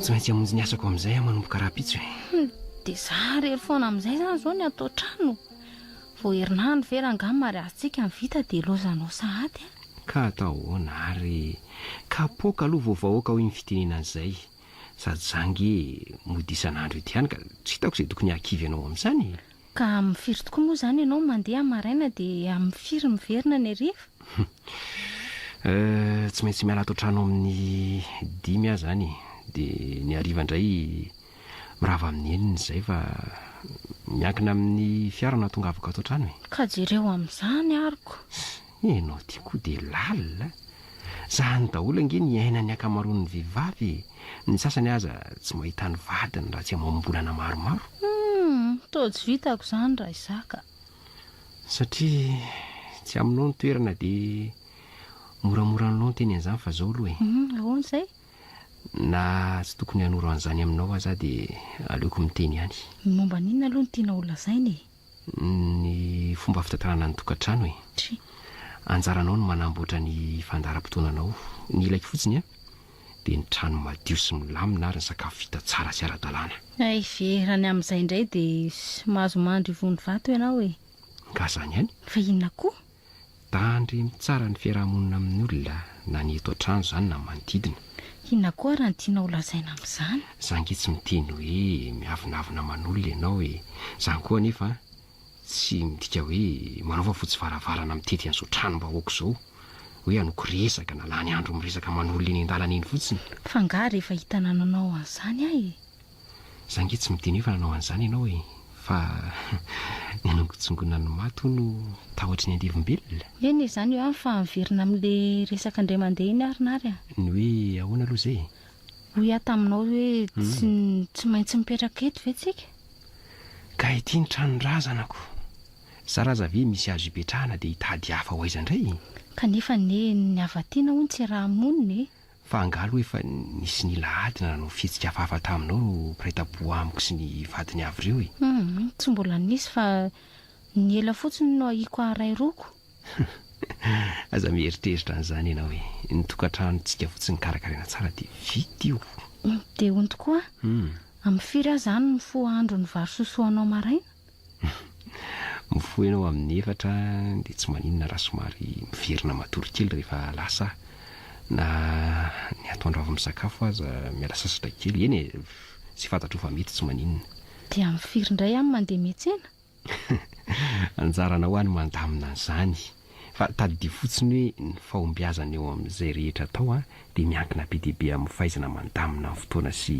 Tsy maintsy hamonjy ny asako amin'izay aho manomboka rahampitso e. Hmm, dia za irery foana amin'izay izany izao ny atao trano. Vao herinandro ve rangaha ny mariazintsika no vita dia ilaozanao sahady a. Ka atao ahoana ary? Kapoaka aloha vao vahoaka hoy ny fitenenana izay. Sady za ange mody isan'andro eto ihany ka tsy hitako izay tokony hahakivy anao amin'izany e. Ka amin'ny firy tokoa moa izany ianao no mandeha maraina dia amin'ny firy miverina ny hariva? Euh, tsy maintsy miala ato an-trano amin'ny dimy aho izany e. Dia ny hariva indray mirava amin'ny enina izay fa miankina amin'ny fiara no hahatongavako ato an-trano e. Ka jereo amin'izany aroko. Ianao ity koa dia lalina a! Zany daholo ange ny iainan'ny ankamaroan'ny vehivavy e! Ny sasany aza tsy mahita ny vadiny raha tsy amam-bolana maromaro. Humm! Toa tsy vitako izany raha izaho ka! Satria tsy aminao ny toerana dia moramora ny lon teny an'izany fa zao aloha e! Humm! Ahoana izay? Na tsy tokony hanoro an'izany aminao aza aho dia aleoko miteny ihany. Ny momba an'inona aloha no tianao holazaina e? ny fomba fitantanana ny tokantrano e! Anjaranao ny manamboatra ny fandaharam-potoananao, ny ilaiko fotsiny an! dia ny trano madio sy milamina ary ny sakafo vita tsara sy ara-dalàna. Hay ve, raha ny amin'izay indray dia mahazo mandry ivon'ny vato ianao e! Nga zany ihany? Fa inona koa? Dandry mitsara ny fiarahamonina amin'ny olona na ny eto an-trano izany na ny manodidina. Inona koa ary no tianao ho lazaina amin'izany? Za ange tsy miteny hoe miavonavona aman'olona ianao e! Zany koa anefa tsy midika hoe manao fa fotsy varavarana mitety an'izao tranom-bahoaka izao hoe hanoky resaka na lany andro miresaka aman'olona eny an-dalana eny fotsiny. Fa angaha rehefa hitanananao an'izany aho e! Za ange tsy midino efa nanao an'izany ianao e! Fa ny an'Angotsongonan'ny maty hono no tahotry ny andevombelona? Eny e, izany io an, fa miverina amin'le resaka indray mandeha iny ary Nary a! Ny hoe ahoana aloha izay e? Hoy aho taminao hoe tsy tsy maintsy mipetraka eto ve tsika? Ka ity ny tranon-drazanako! Zara aza ve misy azo ipetrahana dia hitady hafa ho aiza indray e? Kanefa anie ny avatiana hono tsy raha monina e! Fa angaha aloha efa nisy nila ady na nanao fihetsika hafahafa taminao ireo mpiray tampo amiko sy ny vadiny avy ireo e? Humm, tsy mbola nisy fa ny ela fotsiny no ahiako haharay roko. Aza mieritreritra an'izany ianao e, ny tokantranontsika fotsiny karakaraina tsara dia vita io. Dia hono tokoa, amin'ny firy aho izany mifoha andro ny vary sosoanao maraina? Mifoha ianao amin'ny efatra dia tsy maninona raha somary miverina matory kely rehefa lasa na ny atoandro avy misakafo aza miala sasatra kely, eny e, izay fantatrao fa mety tsy maninona. Dia amin'ny firy indray ihany mandeha miantsena? Anjaranao any mandamina an'izany. Fa tadidio fotsiny hoe ny fahombiazana eo amin'izay rehetra atao dia miankina be dia be amin'ny fahaizana mandamina ny fotoana sy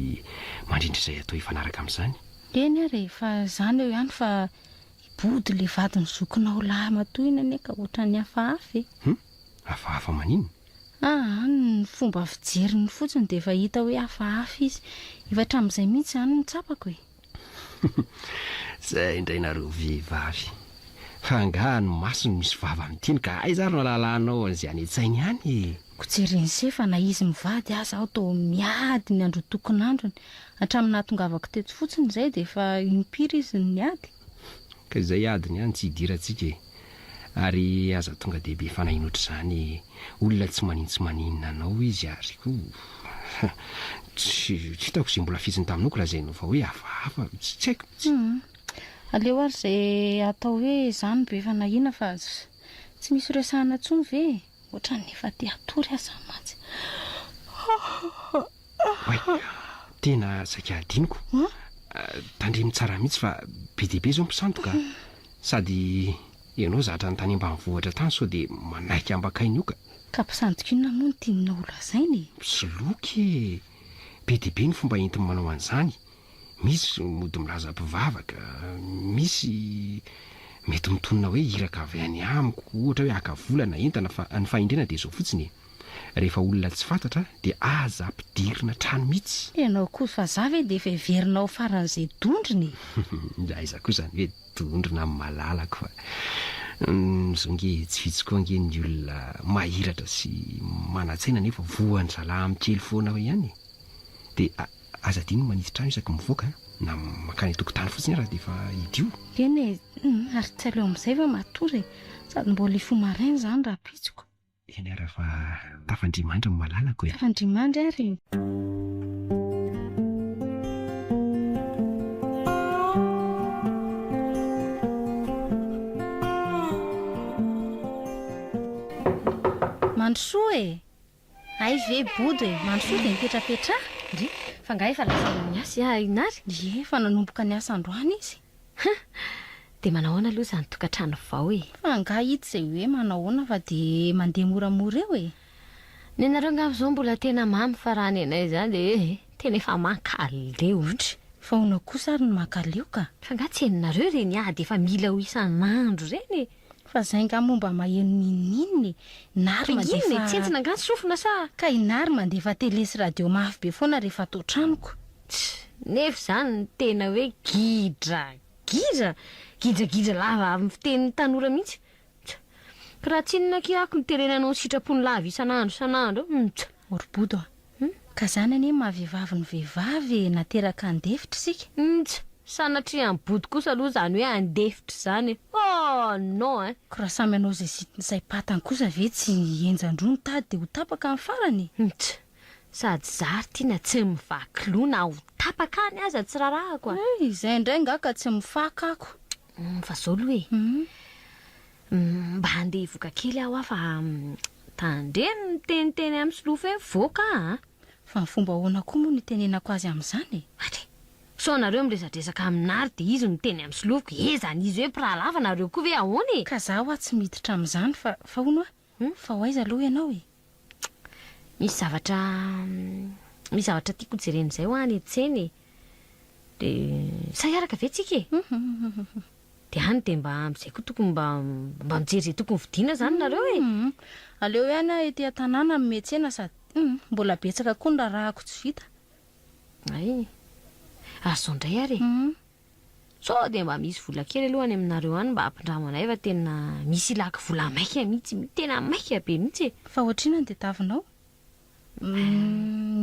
mandrindra izay atao hifanaraka amin'izany. Eny ary e, fa izany eo ihany fa hibody le vadin'ny zokinao lahy matoa iny anie ka ohatran'ny hafahafa e! Hum? Hafahafa maninona? Aa, ny fomba fijeriny fotsiny dia efa hita hoe hafahafa izy. Efa hatramin'izay mihitsy izany no tsapako e! Zay indray nareo vehivavy. Fa angaha ny maso no misy vava amin'ny teny ka aiza ary no alalanao an'izay any an-tsainy any e? Ko jereny se fa na izy mivady aza aho toa miady ny androtokon'androny, hatramin'ny nahatongavako teto fotsiny izay dia efa im-piry izy no niady? Ka izay adiny any tsy hidirantsika e. ary aza tonga dia be fanahy notr'izany e! olona tsy manin tsy maninona anao izy ary koa tsy hitako izay mbola fitsiny taminoko raha izay no fa hoe hafahafa tsy haiko mitsy. Aleo ary izay atao hoe izany be fanahiana fa tsy misy resahana tsony ve e! Ohatran'ny efa te hatory aza mantsy. Oay, tena saika hadinoko. Tandremo tsara mihitsy fa be dia be izao mpisandoka. Sady ianao zatra ny tany ambanivohitra tany sao dia manaiky hambakay ny oka. Ka mpisandoka inona moa no tianao holazaina e? Mpisoloky e! Be dia be ny fomba entiny manao an'izany. Misy mody milaza mpivavaka, misy mety mitonona hoe iraka avy any amiko, ohatra hoe haka vola na entana fa ny fahendrena dia izao fotsiny e, rehefa olona tsy fantatra dia aza ampidirina trano mihitsy. Ianao koa vazaha ve dia efa heverina ho faran'izay dondrona e? Ndra aiza koa izany hoe dondrona amin'ny malalako fa izao ange tsy vitsy koa ange ny olona mahiratra sy manan-tsaina nefa voan'ny zalahy amin'ny kely foana ihany e. Dia Aza adino ny manitsy trano isaky mivoaka na mankany an-tokotany fotsiny ary dia efa hidio. Eny e, ary tsy aleo amin'izay va matory e, sady mbola hifoha maraina izany rahampitsiko. Eny ary fa tafa-ndrimandry ny malalako e. Tafa-ndrimandry ary e. Mandrosoa e. Hay ve bodo e, mandrosoa dia mipetrapetraha. Ndry, fa nga efa lazaina ny asa ia i Nary? Ie, efa nanomboka ny asa androany izy. Huh! Dia manao ahoana aloha izany tokantrano vao e? Fa nga ito izay hoe manao ahoana fa dia mandeha moramora eo e? Ny anareo angamba izao mbola tena mamy fa raha ny anay izany dia eh, tena efa mankaleo. Ndry, fa ahoana kosa ary ny mankaleo ka? Fa nga tsy henonareo ireny ady efa mila ho isan'andro ireny e? Fa zay nga moa mba maheno ninoninona e! Na ary mandefa. Inona e? Tsy entina nga ny sofina sa? Ka i Nary mandefa tele sy radio mafy be foana rehefa ato an-tranoko. Tch! Nefa izany no tena hoe gidra! Gidra! Gidragidra lava amin'ny fitenin'ny tanora mihitsy! Tch! Ka raha tsinona akia ako ny tele nanao ny sitrapony lava isan'andro isan'andro! Tch! Orbodo a! Humm ka zany anie ny maha vehivavy ny vehivavy e, nateraka handefitra isika. Nj, sanatria any bodo kosa aloha izany hoe handefitra izany e! Oh non eh! Ko raha samy hanao izay zitiny izay patany kosa ve tsy henjan-droa ny tady dia ho tapaka any farany e! Nj, sady zary tiana tsy mivaky loha na ho tapaka any aza tsy rarahako a! Hey, izay indray nga ka tsy mifaka ako. Humm fa zao aloha e! Humm. Mba handeha hivoka kely aho a fa tandremo ny miteniteny amin'ny solofa hoe voaka a! Fa ny fomba ahoana koa moa no itenenako azy amin'izany e? Atre! Sao nareo miresadresaka amin'Ary dia izy no miteny amin'ny solofoko, ezany izy hoe mpirahalahy fa nareo koa ve ahoana e? Ka za hoa tsy miditra amin'izany fa, fa hono hoa, Humm fa ho aiza aloha ianao e? Misy zavatra misy zavatra tiako hojerena izay hoa any an-tsena e. Dia sa hiaraka ve tsika e? Dia any dia mba amin'izay koa tokony mba mba mijery izay tokony vidiana izany nareo e! Aleo hoe any aho ety an-tanàna mihomehy tsena sady mbola betsaka koa ny raharahako tsy vita. Hay! Ary izao indray ary e! Sao dia mba misy vola kely aloha any aminareo any mba ampindramo anay fa tena misy ilaky vola maika mihitsy, tena maika be mihitsy e! Fa ohatr'inona ny tadiavinao?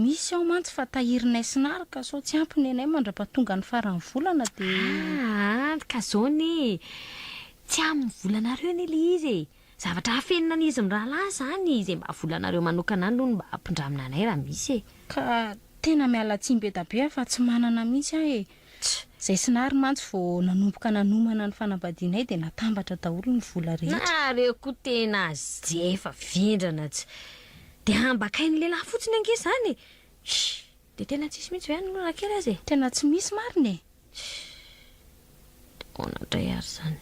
Misy ao mantsy fa tahirinay sy Nary ka sao tsy ampy ny anay mandra-pahatonga ny faran'ny volana dia. Aa ka zao anie e! Tsy amin'ny volanareo anie ilay izy e! Zavatra afenina an izy mirahalahy zany izay mba volanareo manokana any aloha no mba ampindramina anay raha misy e. Ka tena miala tsiny be da be aho fa tsy manana mihitsy aho e. Tch! Zay Sinary mantsy vao nanomboka nanomana ny fanambadianay dia natambatra daholo ny vola rehetra. Nareo koa tena azefa vendrana tsy de hambakain'ny lehilahy fotsiny ange zany e. Shh! De tena tsisy mihitsy ve any aloha raha kely aza e. Tena tsy misy marina e. Tch! Ahoana indray ary izany?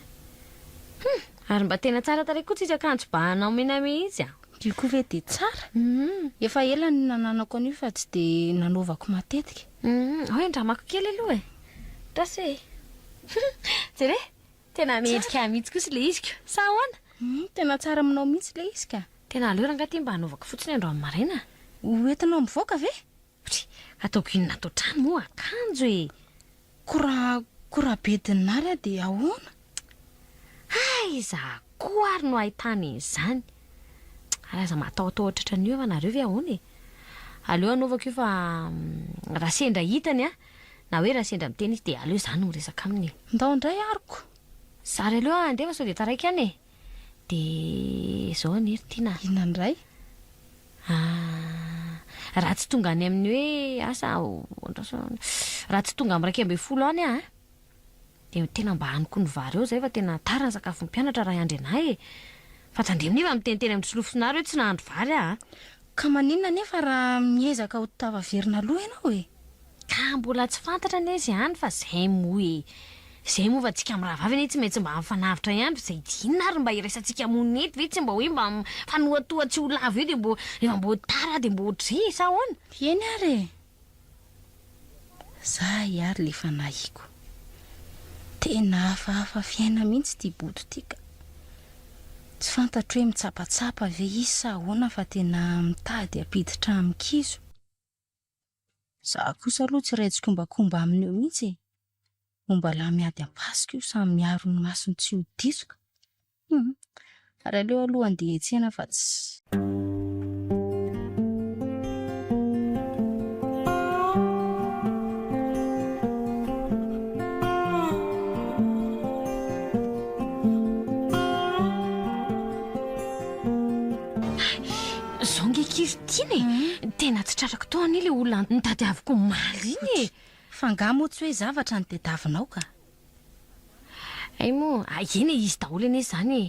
Hum! Ary mba tena tsara tarehy koa tsika kanjo bahana omena mihitsy a! Io koa ve dia tsara? Hum! Efa ela no nananako an'io fa tsy dia nanaovako matetika. Hum! Ao e, andramako kely aloha e! Tos e! Hum! Jere e! Tena mendrika ahy mihitsy kosa ilay izy ko! Sa ahoana? Hum! Tena tsara aminao mihitsy ilay izy ka! Tena aleo rangahy ity mba hanaovako fotsiny androany maraina a! Ho entinao mivoaka ve? Pri, Ataoko inona ato an-trano moa akanjo e! Ko ra ko ra bedin'i Nary aho dia ahoana? Aiza koa ary no ahitany an'izany? Ary aza matahotahotra otratran'io eo ianareo ve ahoana e! Aleo anaovako io fa raha sendra hitany an! Na hoe raha sendra miteny izy dia aleo izaho no miresaka aminy e! Ndao indray ary ko! Zary aleo andefa sao dia taraiky any e! Dia izao anie ry Tiana a. Inona indray? Ah, raha tsy tonga any amin'ny hoe asa aho, andrasana, raha tsy tonga amin'ny iraika ambin'ny folo any aho a, dia tena mba hanoko ny vary eo izay fa tena tara ny sakafon'ny mpianatra Raiandrianahy e! Fa tandremo anie fa miteny teny amin'ny solofosonareo hoe tsy nahandro vary aho a! Ka maninona anefa raha miezaka ho tafaverina aloha ianao e? Ka mbola tsy fantatra anie izany fa izay moa e! Izay moa fa tsika mirahavavy anie tsy maintsy mba mifanavotra ihany fa izay dia inona ary mba iraisantsika monina eto ve tsy mba hoe mba mifanohatoha tsy ho lavo eo dia mbo rehefa mbo tara dia mbo ho dry sa ahoana? Eny ary e! Za iary le fanahiko. Tena hafahafa fiaina mihintsy ty bodo ty ka. Tsy fantatro hoe mitsapatsapa ve izy sa ahoana fa tena mitady hampiditra amin-kizo. Za kosa aloha tsy iray tsikombakomba aminy eo mihintsy e. Omba lahy miady am-pasika io samy miaro ny masony tsy ho diso ka. Humm. Ary aleo aloha handeha hiantsena fa tsy. Hay, zao nge kivy tiana e! Tena tsy tratrako tao anie ilay olona nitadiaviko omaly iny e! F'angaha moa tsy hoe zavatra no tadiavinao ka? Hay moa, a eny e, izy daholo anie izany e!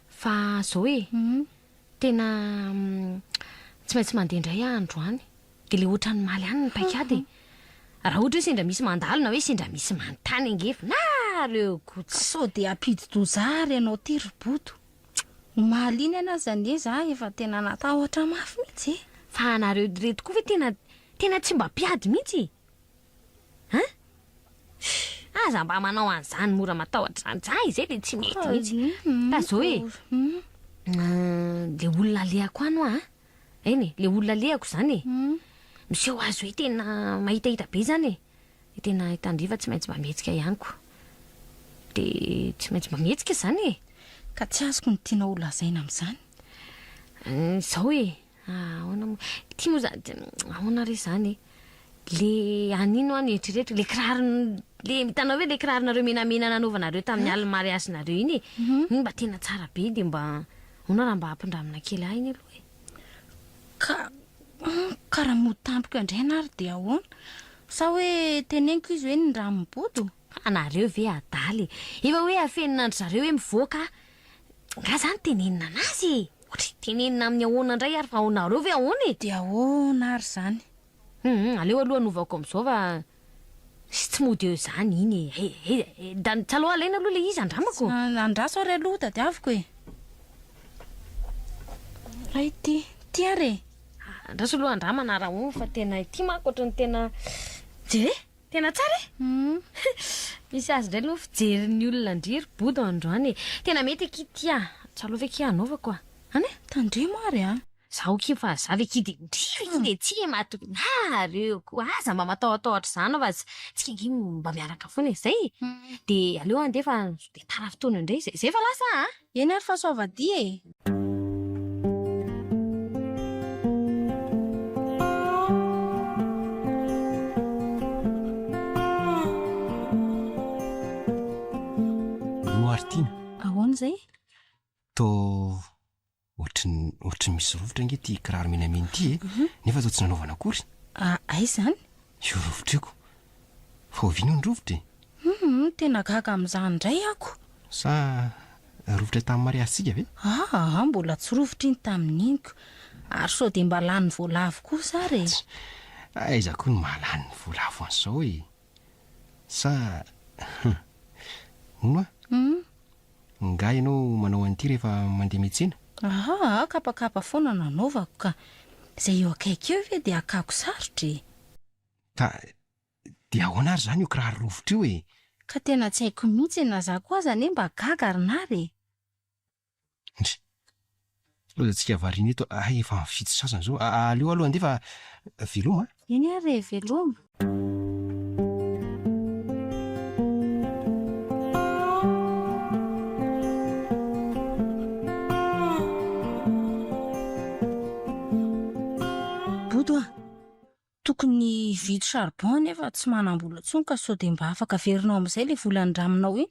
Fa izao e, tena tsy maintsy mandeha indray aho androany. Dia ilay ohatran'ny maly any ny paik'ady e! Raha ohatra hoe sendra misy mandalo na hoe sendra misy manontany angefa, na aleo ko tsy. Sao dia hampidi-doza ahy ry ianao ity ry Bodo. Omaly iny any aza anie za efa tena natahotra mafy mihitsy e! Fa anareo ireto koa ve tena tena tsy mba mpiady mihitsy e! Hein? Shh! Aza mba manao an'izany mora matahotra izany. Zah izay dia tsy mety mihitsy. Fa zao e! Ilay olona alehako any hoa an! Eny e, ilay olona alehako izany e! Miseho azy hoe tena mahitahita be izany e! Dia tena i Tandriva tsy maintsy mba mihetsika ihany koa. Dia tsy maintsy mba mihetsika izany e! Ka tsy azoko ny tianao holazaina amin'izany. Izao e! Ah, ahoana moa. Ity moa za de ahoana re zany e. Le any ino any eritrereto le kiraro le hitanao ve le kiraronareo menamena nanaovanareo tamin'ny ah. alin'ny mariazinareo iny e. Mhm. Iny mba tena tsara be de mba ahoana raha mba hampindramina kely ahy iny aloha e. Ka hmm, karaha motampiko indray na ary dia ahoana sa hoe teneniko izy hoe ny raha mibodo anareo ve adala e efa hoe afeninandry zareo hoe mivoaka nga zany tenenina anazy e Ohatry ny tenenina amin'ny ahoana indray ary fa aonareo ve ahoana e? Dia ahoana ary izany? Hum hum, aleo aloha anovaoko amin'izao fa sy tsy mody eo izany iny e! He he he, da ny taloha alaina aloha ilay izy andramako! Andraso ary aloha tadiaviko e! Raha ity, ity ary e! Andraso aloha andramana raha ohatra fa tena ity manko ohatry ny tena. Dia. Tena tsara e! Misy azy indray no fijerin'ny olona an-dry Bodo androany e! Tena mety akia ty ah! Tsalo ve akia hanaovako ah! Any e! Tandremo ary ah! Zaho akia fa za ve akia dia indrisy ve akia dia tsy e! Mahatokona ah! Reo koa aza mba matahotahotra izany fa tsy tsika akia mba miaraka foana e! Izay e! Dia aleo andeha fa sao dia tara fotoana indray izay izay fa lasa ah! Eny ary fa soavadia e! Roa ary tiana. Ahoana izay? Toa ohatry ny ohatry ny misy rovitra ange ity kiraro menamena ity e, nefa toa tsy nanaovana akory. Aiza izany? Io rovitra io ko. Fa oviana io ny rovitra e? Humm, tena gaga amin'izany indray ako. Sa rovitra tamin'ny mariazintsika ve? Aa, mbola tsy rovitra iny tamin'iny ko. Ary sao dia mba lany voalavo kosa ary e? Tch, aiza koa no mahalany ny voalavo an'izao e? Sa, humm, hono hoa? Humm, Ngah ianao manao an'ity rehefa mandeha miantsena? Ahaa aho kapakapa foana no anaovako ka. Izay eo akaiky eo ve dia hakako sarotra e! Ka dia ahoana ary izany io kiraro rovitra io e? Ka tena tsy haiko mihitsy e, na za koa aza anie mba gaga ry nara e! Ndry. Toa tsika variana eto a! Efa amin'ny fito sasany izao. Aleo aloha andeha fa veloma a! Eny ary e, veloma! Tokony hividy charbon nefa tsy manambola tsony ka sao dia mba afaka averinao amin'izay ilay vola nindraminao iny?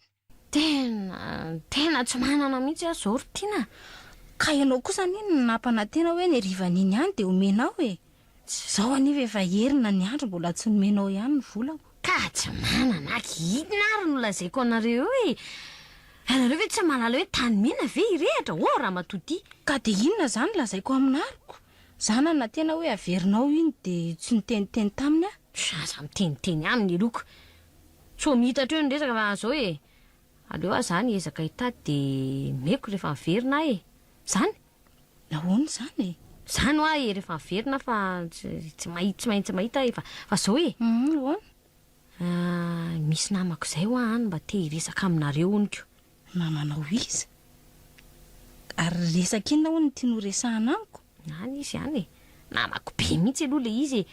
Tena, tena tsy manana mihitsy aho izao ry Tiana a! Ka ianao kosa anie no nampanantena hoe ny harivan'iny ihany dia omenao e! Izao anefa efa herina ny andro mbola tsy nomenao ihany ny volako. Ka tsy manana aky inona ary no lazaiko anareo eo e! Ianareo ve tsy mahalala hoe tany mena ve irehitra ô Ramatoa Tia? Ka dia inona izany lazaiko aminarco? Zana na tena hoe averinao iny de tsy niteniteny taminy ah. Zaza miteniteny ihany ny loko. Tsy ho mita hatreo ny resaka fa zao e. Aleo ah zany hiezaka hitady de meko refa miverina ah e. Zany? Nahoana izany e? Zany hoa e refa miverina fa tsy mahi tsy maintsy mahita ah e fa zao e. Humm ahoana? Ahh misy namako zay hoa any mba te hiresaka aminareo honiko. Na manao iza? Ary resaka inona hono ity noresahana amiko? Any izy any e! Namako be mihitsy aloha ilay izy e!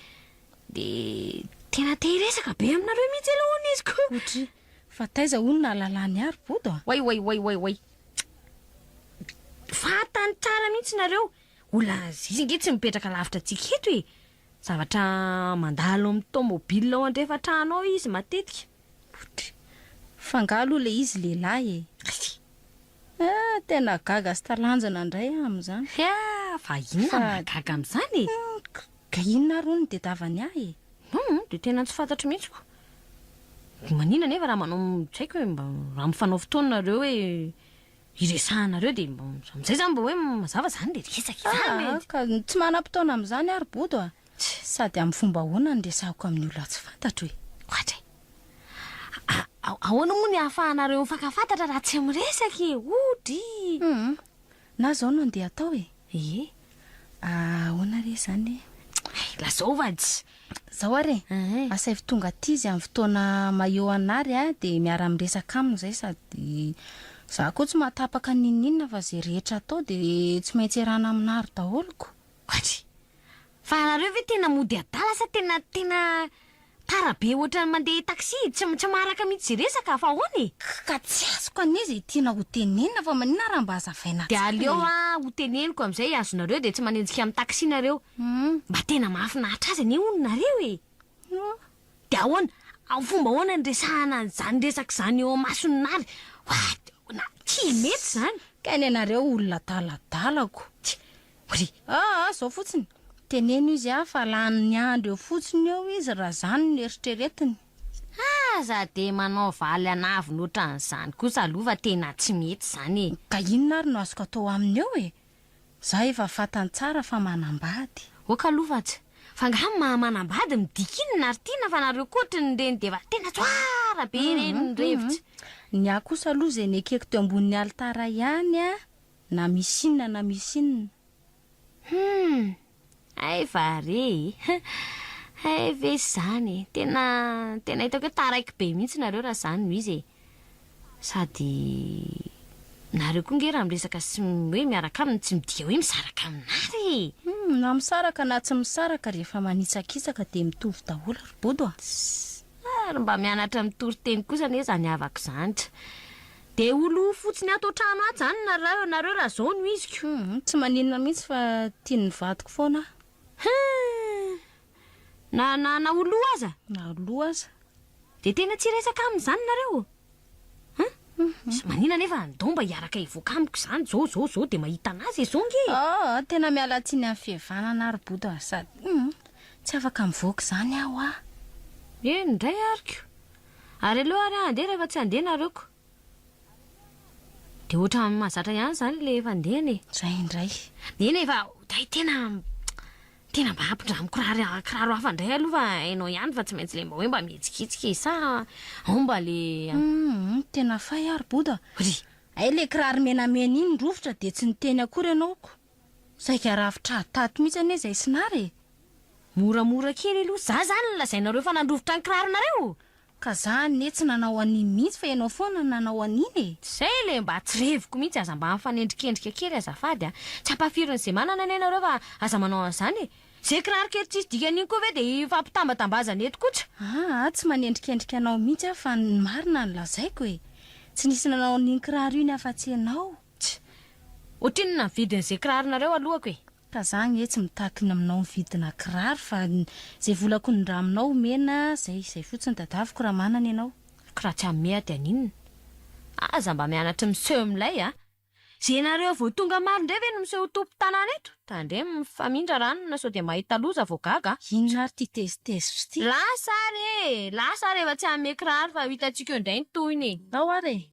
Dia tena te hiresaka be aminareo mihitsy aloha hono izy ko! Otry, fa taiza hono no nahalalany ary Bodo a? Oay oay oay oay oay! Fantany tsara mihitsy nareo! Olona zizy ange tsy mipetraka lavitra antsika eto e! Zavatra mandalo amin'ny tomobile ao andrefan-trano ao izy matetika. Poudre. F'angaha aloha ilay izy lehilahy e? Ry. Ah, tena gaga sy talanjona indray aho amin'izany. Hia, fa inona no mahagaga amin'izany e? Hum, ka inona ary hono no tedavany ahy e? Hum, dia tena tsy fantatro mihitsy ko. Maninona anefa raha manao, tsy haiko e, mba raha mifanao fotoana nareo hoe. iresahanareo dia amin'izay izany mba hoe mazava izany dia resaka izany e! Aah, ka tsy manam-potoana amin'izany ary Bodo a! Sady amin'ny fomba ahoana no iresahako amin'ny olona tsy fantatro e! Ohatra e! A, ahoana moa ny ahafahanareo mifankafantatra raha tsy miresaka e! Odry! Humm, na izao no andeha atao e! Ie! Ahoana re izany e? Hay, lazao vadis! Izao ary e, asaivo tonga aty izy amin'ny fotoana maio an'ary a, dia miara-miresaka aminy izay sady izaho koa tsy mahatapaka n'inon'inona fa izay rehetra atao dia tsy maintsy iarahana amin'ary daholo ko. Vadis! Fa ianareo ve tena mody adala sa tena tena Tara be ohatran'ny mandeha taxi tsy tsy maharaka mihitsy resaka fa ahoana e? Ka tsy azoko anie izay tiana ho tenenina fa maninona raha mba hazavaina tsara e? Dia aleo a ho teneniko amin'izay azonareo dia tsy manenjika amin'ny taxi nareo. Mba tena mahafinaritra azy anie hono nareo e! Ohh. Dia ahoana? Amin'ny fomba ahoana no resahana an'izany resaka izany eo imason'i Nary? What? Ahoana? Tsy mety izany! Ka ny anareo olona adaladalako. Tsia. Pri. Aa zao fotsiny, teneno izy a fa lany ny andro eo fotsiny eo izy raha zany no eritreretiny. Aza dia manao valy an'avony otran'izany kosa aloha fa tena tsy mety zany e. Ka inona ary no azoko atao aminy eo e? Za efa fantany tsara fa manambady. Ok aloha fa tsy. Fa nga ny maha manambady midika inona ary tiana fa nareo koa otry ny reny dia efa tena tsoara be ireny ny revitsy. Ny ahy kosa aloha ze nekeko teo ambon'ny alitara ihany a. Na misy inona na misy inona. Humm! Hay va re e! Hay ve izany e! Tena, tena hitako hoe taraiky be mihitsy nareo raha izany no izy e! Sady nareo koa nge raha miresaka sy hoe miaraka aminy tsy midika hoe misaraka aminareo e! Humm! Na misaraka na tsy misaraka rehefa manitsakitsaka dia mitovy daholo ry Bodo a! Tss! Ary mba mianatra mitory teny kosa anie izany havako izany. Dia ho lo fotsiny ato an-trano ato izany nareo, nareo raha izao no iziko. Hum, tsy maninona mihitsy fa tian'ny vadiko foana aho. Hum! Na, na, na ho lo aza? Na ho lo aza. Dia tena tsy hiresaka aminy izany nareo? Hum? Hum. Maninona anefa ndao mba hiaraka hivoaka amiko izany izao, izao, izao dia mahita an'azy izao nge e! Oh, tena miala tsiny amin'ny fihevanana ary Bodo a! Sady, hum, tsy afaka mivoaka izany aho a! Eny indray ariko. Ary aleo ary aho handeha raha efa tsy handeha nareo ko. Dia ohatran'ny mahazatra ihany izany ilay efa handehana e. Izay indray. Neny e fa oday tena tena mba ampindramo kiraro kiraro hafa indray aloha fa hainao ihany fa tsy maintsy ilay mba hoe mba mihetsiketsiky e sa ao mba le Humm tena fay ary boda. Ry. Hay le kiraro menamena iny rovitra dia tsy niteny akory ianao ko. Saika rafitra tato mihitsy anie izay Sinara e! Moramora kely aloha. Za zany no lazainareo fa nandrovitra ny kiraronareo? Ka za anie tsy nanao an'iny mihitsy fa ianao foana no nanao an'iny e! Zay ilay mba tsy reviko mihitsy, aza mba mifanendrikendrika kely azafady a! Tsy ampahafirin'ny ze manana anie nareo fa aza manao an'izany e! Ze kiraro kely tsisy dikany iny koa ve dia hifampitambatambazana eto koa tsy. Aa tsy manendrikendrika anao mihitsy aho fa ny marina no lazaiko e! Tsy nisy nanao an'iny kiraro iny afa-tsy ianao. Tch! Ohatrinona ny vidin ze kiraronareo alohako e! Ka za anie tsy mitakina aminao ny vidina kiraro fa zay vola konindraminao omena zay zay fotsiny dadaviko raha manana ianao. Ko raha tsy hanome aho dia haninona? Aza mba mianatry miseho milay a! Ze nareo vao tonga maro ndray ve no miseho ho tompo tanàna eto? Tandremo mifamindra ranona sao dia mahita loza vao gaga a! Inona ary ty tezitezitra ty? Lasa ary e! Lasa ary efa tsy hanome kiraro fa ho hitantsika eo ndray ny tohiny e! Ao ary e!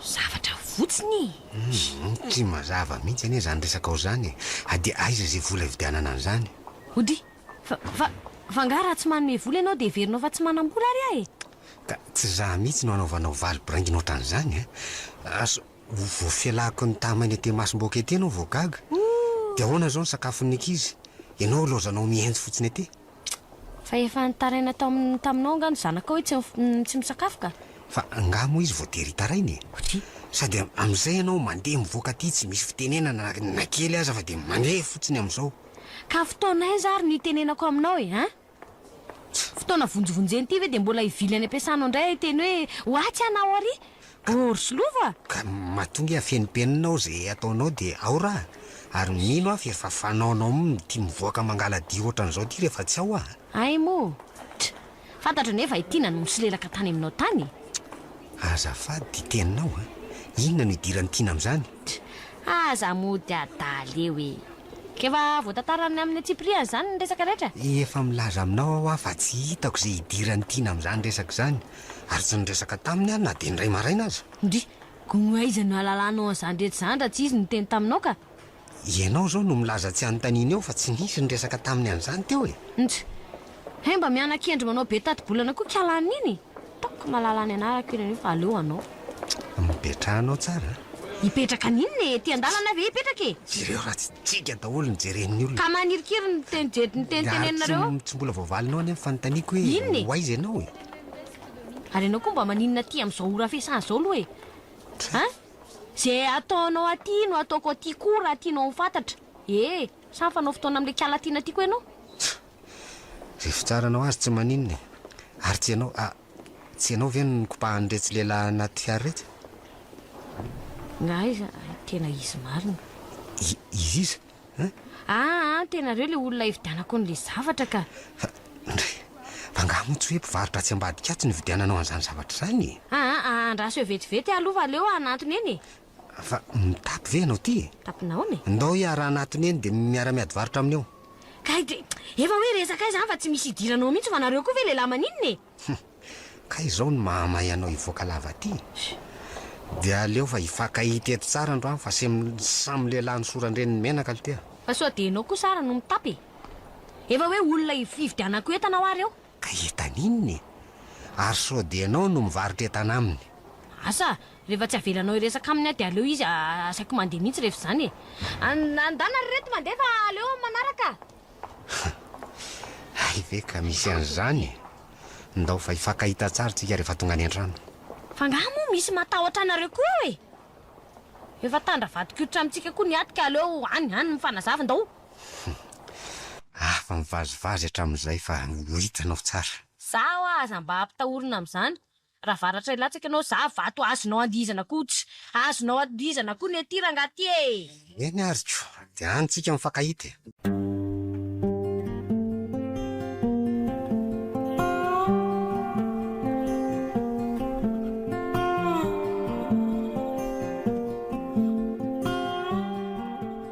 Zavatra fotsiny e! Tsy mazava mihitsy anie izany resakao izany e! Dia aiza izay vola hividianana an'izany? Hody, Fa, fa, fa angaha raha tsy manome vola ianao dia heverinao fa tsy manam-bola ary aho e! Ka tsy za mihitsy no anaovanao valy biraingina ohatran'izany e! Asa ho voafelako ny tamain'ny aty masom-bohoka ety ianao vao gaga? Dia ahoana izao ny sakafon'ny ankizy? Ianao ilaozanao mihenjy fotsiny ety? Fa efa nitaraina tao amin'ny taminao angaha ny zanakao hoe tsy tsy misakafo ka. Fa angaha moa izy voatery hitaraina e? Satria? Sady amin'izay ianao mandeha mivoaka aty tsy misy fitenenana na kely aza fa dia mandeha fotsiny amin'izao. Ka fotoana aiza ary no hitenenako aminao e? An? Fotoana vonjivonjena ity ve dia mbola hivily any am-piasànao indray hiteny hoe ho atsy aho na ho arỳ? Orso lova? Ka mahatonga afenimpenina ao izay ataonao dia ao raha, ary mino aho fa efa fanaonao mn ity mivoaka mangaladia ohatran'izao ity rehefa tsy ao aho. Hay moa. Tch! Fantatro anie fa i Tiana no misolelaka tany aminao tany e! Tch! Azafady ity teninao a! Inona no idiran'i Tiana amin'izany? Tch! Aza mody adala eo e! K'efa voatantaran'ny amin'ny antsipiriany izany ny resaka rehetra? Efa milaza aminao aho aho fa tsy hitako izay idiran'i Tiana amin'izany resaka izany, ary tsy niresaka taminy aho na dia indray maraina aza. Ndry! Gony aiza no ahalalanao an'izany rehetra izany raha tsy izy no niteny taminao ka! Ianao izao no milaza tsy hanontaniana eo fa tsy nisy niresaka taminy an'izany teo e! Ndry! Hay mba miana-kendry manao be tati-bolana koa kialà an'iny e! Ataoko mahalala ny anarako iny anio fa aleo anao. Mipetrahanao tsara a! Hipetraka an'inona e! Ety an-dalana aho ve hipetraka e! Jereo raha tsy tsiga daholo ny jeren'ny olona. Ka manirikiry ny teny jery ny teny teneninareo eo! Tsy mbola voavalinao anie ny fanontaniako hoe ho aiza ianao e! Ary ianao koa mba maninona aty amin'izao ora fiasana izao aloha e? Hein? Izay ataonao aty no ataoko aty koa raha tianao ho fantatra e! Sa mifanao fotoana amin'ilay kala tiana aty koa ianao? Izay fitsaranao azy tsy maninona e! Ary tsy ianao, ah, tsy ianao ve no nikopahan'iretsy lehilahy anaty fiara iretsy? Nga izy, tena izy marina. I, izy iza? Aa an tenareo le olona ividianako anle zavatra ka. Fa ndry, fa nga moa tsy hoe mpivarotra atsy ambadika atsy nividiananao anzany zavatra zany e? Aa a andraso eo vetivety alo fa aleo hanantona eny e! Fa mitapy ve ianao ty e? Mitapy naona e? Ndao hiara hanatona eny de miara miady varotra aminy eo. Kay de efa hoe resaka izany fa tsy misy idiranao mihitsy fa nareo koa ve lehilahy maninona e? Hum! Ka izao no mahamay anao hivoaka lava aty e! Dia aleo fa hifankahita eto tsara andro any fa samy lehilahy nosoran-dreniny menaka lty a! Fa sao dia ianao kosa ary no mitapy e! Efa hoe olona hividianako entana ho ary eo! Ka entana inona e! Ary sao dia ianao no mivarotra entana aminy? Asa! Rehefa tsy avelanao hiresaka aminy aho dia aleo izy asaiko mandeha mihitsy rehefa izany e! Andana ry reto mandeha fa aleo amin'ny manaraka! Hay ve ka misy an'izany e! Ndao fa hifankahita tsara tsika rehefa tonga any an-trano. Fa angaha moa misy matahotra anareo koa eo e! Efa tandravadik'oditra amintsika koa ny aty ka aleo any any mifanazava ndao! Afa-mivazivazy hatramin'izay fa ho hitanao tsara. Zaho aza mba ampitahorina amin'izany Raha varatra hilatsaka ianao za vato azonao andihizana koa tsy azonao andihizana koa ny aty rangaha ty e! Eny ary ko, dia any tsika mifankahita e!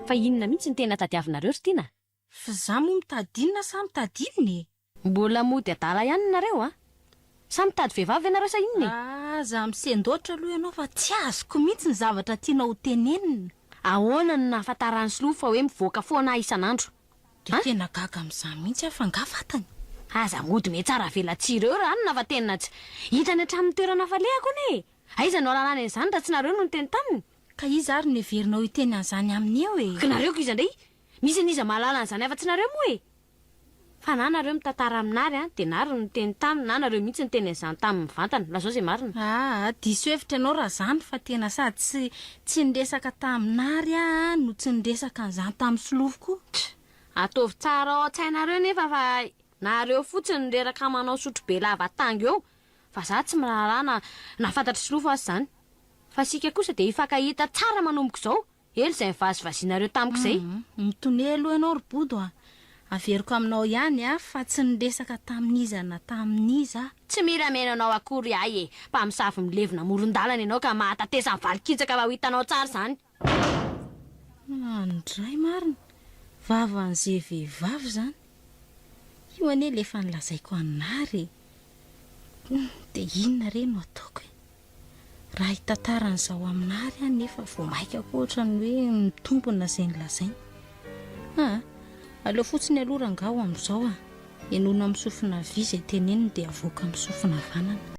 Fa inona mihitsy no tena tadiavinareo ry Tiana? Fa za moa mitady inona sa mitady inona e? Mbola mody adala ihany nareo a! Sa mitady vehivavy ianareo sa inona e? Aza misendoatra aloha ianao fa tsy azoko mihitsy ny zavatra tianao ho tenenina. Ahoana no nahafantaran'i Slo fa hoe mivoaka foana aho isan'andro a? Tena gaga amin'izany mihitsy aho fa nga fantany? Aza mody mihatsara velatsihy ireo ranona fa tena tsy hitrany hatramin'ny toerana hafalehako anie e! Aiza no ahalalany an'izany raha tsy nareo no niteny taminy? Ka iza ary no heverinao hiteny an'izany aminy eo e? Ka nareo koa iza indray Misy an'iza mahalala an'izany afa-tsy nareo moa e! Fa na nareo mitantara amin'ary an, dia n'ary no niteny taminy na nareo mihitsy niteny an'izany taminy mivantana. Lazao izay marina. Aa, diso hevitra ianao raha izany fa tena sady tsy tsy niresaka tamin'ary aho an no tsy niresaka an'izany tamin'i Solofo koa. Tra! Ataovy tsara ao an-tsainareo nefa fa nareo fotsiny no reraka manao sotrobe lava tango eo fa za tsy miraharaha na na fantatr'i Solofo aza izany. Fa isika kosa dia hifankahita tsara manomboka izao Helo zay nivazivazianareo tamiko zay. Hum mitonia aloha ianao ry Bodo a! Averiko aminao ihany a fa tsy niresaka tamin'iza na tamin'iza aho. Tsy mila mihaino anao akory ahy e! Mpamosavy milevina amoron-dalana ianao ka mahatatesa ny valin-kitsaka raha ho hitanao tsara izany. Any ndray marina! Vavan'ze vehivavy izany! Io anie le efa nilazaiko an'Ary e! Hum dia inona re no ataoko e? Raha hitantara an'izao aminà ary aho nefa vao maika koa ohatran'ny hoe mitombina izay nolazainy. Aa! Aleo fotsiny aloha rangahy ho amin'izao a! Henoina amin'ny sofina havia izay teneniny dia avoaka amin'ny sofina havanana.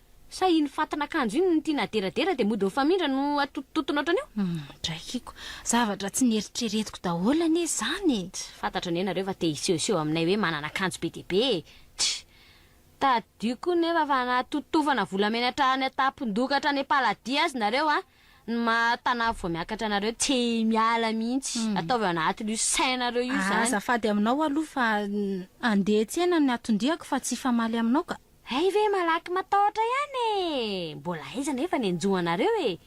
Sa iny fatin'akanjo iny no tiana aderadera dia mody mifamindra no atotototona ohatran'io? Draikiko. Zavatra tsy neritreretiko daholo anie izany e! Tsy fantatro anie nareo fa te hisehoseho aminay hoe manana akanjo be dia be e! Tch! Tadidio koa nefa fa na totofana volamena hatrany an-tampon-doka hatrany am-paladia azy nareo an! Ny maha tanavy vao miakatra anareo tsy miala mihitsy! Ataovy ao anatin'io sainareo io izany! Azafady aminao aloha fa andeha tsena ny aton-diako fa tsy hifamaly aminao ka! Hay ve malaky matahotra ihany e! Mbola aiza anefa ny anjoanareo e!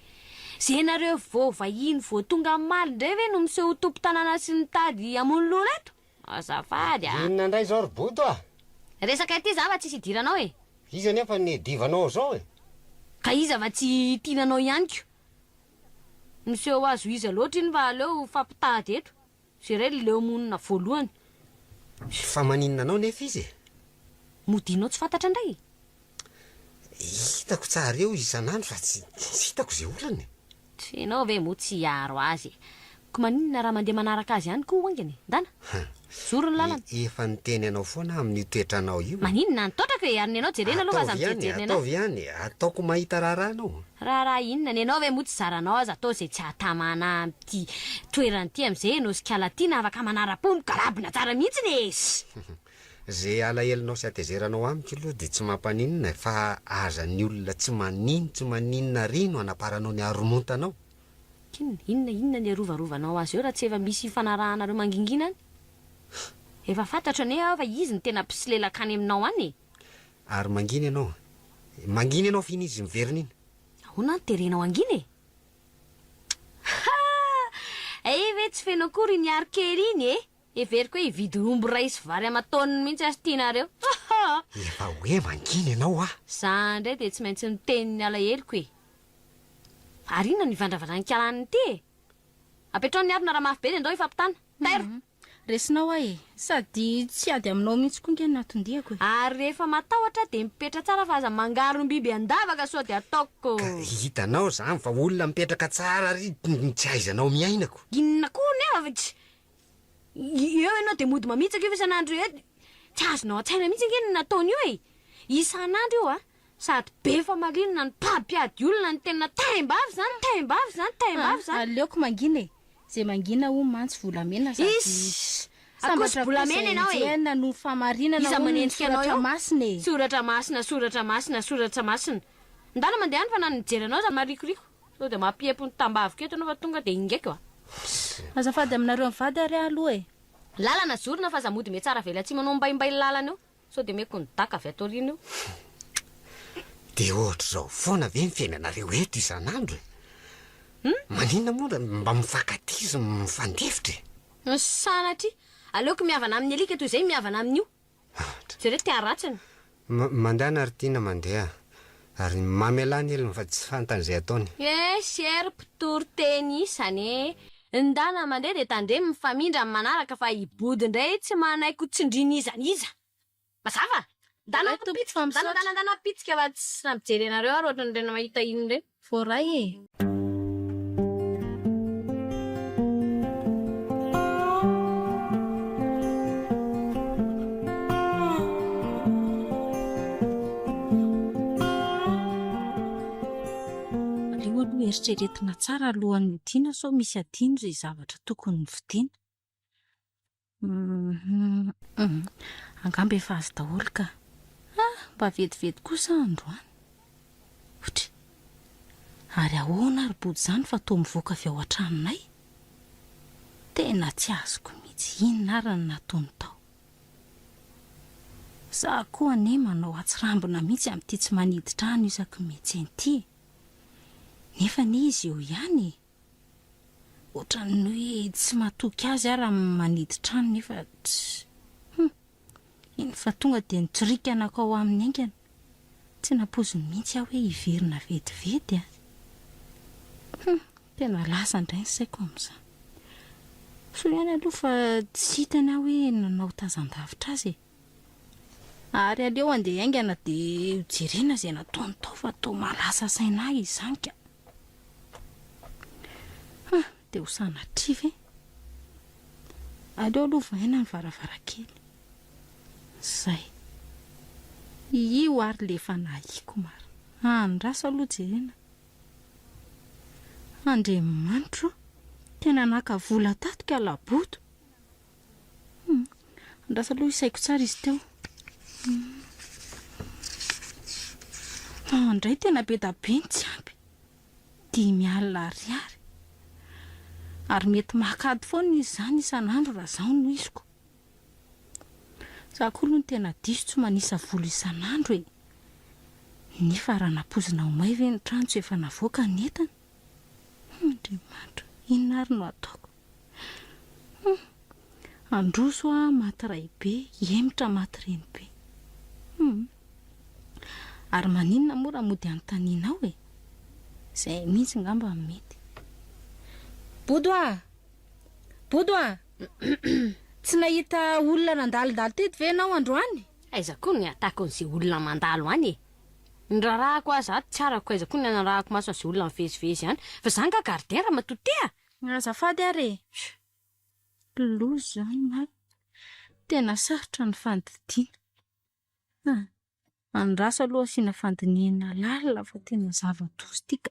Ze nareo vao vahiny vao tonga am maly ndray ve no miseho ho tompo tanàna sy mitady hamono loha reto? Azafady a! Inona indray izao ry Bodo a! Resaka ity za va tsisy idiranao e! Iza anefa ny divanao izao e! Ka iza va tsy tiana anao ihany ko! Miseho azo iza loatra iny fa aleo ho fampitady eto! Jereo ry leo monina voalohany. Fa maninona anao nefa izy e? Modianao tsy fantatra indray e! Hitako tsara eo isan'andro fa tsy hitako izay olana e! Tsy ianao ve moa tsy hiaro azy e! Ko maninona raha mandeha manaraka azy ihany ko haingana e! Ndana! Mijoro ny lalana! Efa niteny anao foana aho amin'io toetranao io e! Maninona any? Taotrako e! Ary ny anao jerena aloha fa aza mijerijerin'ny anay! Ataovy ihany e! Ataovy ihany e! Ataoko mahita raharaha anao! Raharaha inona? Ny anao ve moa tsy zaranao aza atao izay tsy hahatamana ahy! ity toerana ity amin'izay ianao sy kala tiana afaka manara-po migarabona tsara mihitsy ny es. Ze alahelonao sy atezeranao amiko aloha dia tsy mampaninona e, fa aza ny olona tsy manino tsy maninona ary no anaparanao ny haromontanao. Inona, inona, inona ny arovarovanao azy eo raha tsy efa misy ifanarahanareo mangingina any? Efa fantatro anie aho fa izy no tena mpisolelaka any aminao any e! Ary mangina ianao, mangina ianao fa iny izy miverina iny. Ahoana no terenao hangina e? Haa! Ee ve tsy feno akory iny ary kely iny e! Heveriko hoe hividy omby iray sy vary aman-taoniny mihitsy ary tianareo. Hahaa! Efa hoe mangina ianao ah! Za indray dia tsy maintsy miteny ny alaheloko e! Ary inona no ivandravandran'ny kalaniny ity e! Apetraho ny harona raha mafy be dia ndao hifampitana! Tairo! Resinao aho e! Sady tsy ady aminao mihitsy koa nge no natondiako e! Ary rehefa matahotra aho dia mipetra tsara fa aza mangarom-biby an-davaka sao dia ataoko. Ka hitanao zany fa olona mipetraka tsara ary tsy ahaizanao miaina ko. Inona koa hono eo avy eo ianao dia mody mamitsaka io fa isan'andro tsy azonao an-tsaina mihitsy ange ny nataony io e! Isan'andro io a! Sady be famarinana no mpampiady olona ny tena taim-bavy zany, taim-bavy zany, taim-bavy zany. Aleoko mangina e! Zay mangina hono mantsy volamena sady Iss! Sambatra koa zay enjehina noho ny fahamarinana Iza hono ny manendrika anao soratra eo? masina e! Soratra masina, soratra masina, soratsa masina. Ndana mandeha any fa na ny mijery anao aza marikoriko. Sao dia mampiempo ny tambaviko eto ianao fa tonga dia ingaiko a! Azafady aminareo mivady ary aho aloha e! Lalana zorina fa aza mody mihatsara avela tsy manao mbaimbaillalana eo. Sao dia omeko ny daka avy aty aoriana eo? Dia ohatr'izao foana ve ny fiainanareo eto isan'andro e? Maninona moa raha mba mifankatia sy mifandefitra e? Sanatria! Aleoko mihavana amin'ny alika toy izay mihavana amin'io. Jereo te-haratsiny. Mandehana ry Tiana, mandeha. ary mamelà ny helony fa tsy fantany izay ataony. Yes er mpitory teny isany e! Ny dana mandeha dia tandremo mifamindra amin'ny manaraka fa i Body indray tsy manaiky ho tsindriana iza n'iza! Mazava? Dana pitsika, dana dana dana pitsika fa tsy nampijery anareo ary ohatran'ireny mahita iny ireny. Voaray e! Aleo aloha eritreretina tsara alohan'ny hidiana sao misy adino izay zavatra tokony hovidiana. Angamba efa azo daholo ka. Ha, mba vetivety kosa aho androany. Ouch! Ary ahoana ary body izany fa toa mivoaka avy ao an-tranonay? Tena tsy azoko mihitsy inona ary no nataony tao. Za koa anie manao hatsirambina mihitsy amin'ity tsy manidy trano isaky ny mihetsena ity e. Nefa anie izy eo ihany e. Ohatran'ny hoe tsy matoky azy aho raha manidy trano nefa tsy Hum, eny fa tonga dia nitsirika nankao aminy haingana. Tsy nampoiziny mihitsy aho hoe hiverina vetivety an! Hum, tena lasa indray ny saiko amin'izany. Soa ihany aloha fa tsy hitany aho hoe nanao tazan-davitra azy e! Ary aleo handeha haingana dia ho jerena izay nataony tao fa toa mahalasa saina ahy izany ka. Ha, dia ho sanatria ve? Aleo aloha vahaina ny varavarankely. Izay. Io ary ilay efa nahiako marina. Andraso aloha jerena. Andriamanitro o, tena naka vola tato ka laboto. Hum. Andraso aloha isaiko tsara izy teo. Hum. Indray tena be da be ny tsy ampy. Dimy alina ariary. Ary mety mahakady foana izy izany isan'andro raha izaho no iziko. Izaho koa aloha no tena diso tsy manisa vola isan'andro e. Nefa raha nampoizina ho may ve ny trano tsy efa navoaka ny entana? Humm Andriamanitra o, inona ary no ataoko? Humm Handroso aho maty raibe, hihemotra maty renibe. Humm Ary maninona moa raha mody anontanianao e? Izay mihitsy ngamba no mety. Bodo a! Bodo a! Tsy nahita olona nandalondalo teto ve ianao androany? Aiza koa ny hatakon'izay olona mandalo any e? Ny raharahako aza ato tsy arako aiza koa ny anarahako maso an'izay olona mivezivezy any. Fa za nga gardera matoa te a! Azafady ary e! Ry loza izany marina. Tena sarotra ny fandidiana. An! Andraso aloha asiana fandinihina lalina fa tena zava-doza ity ka.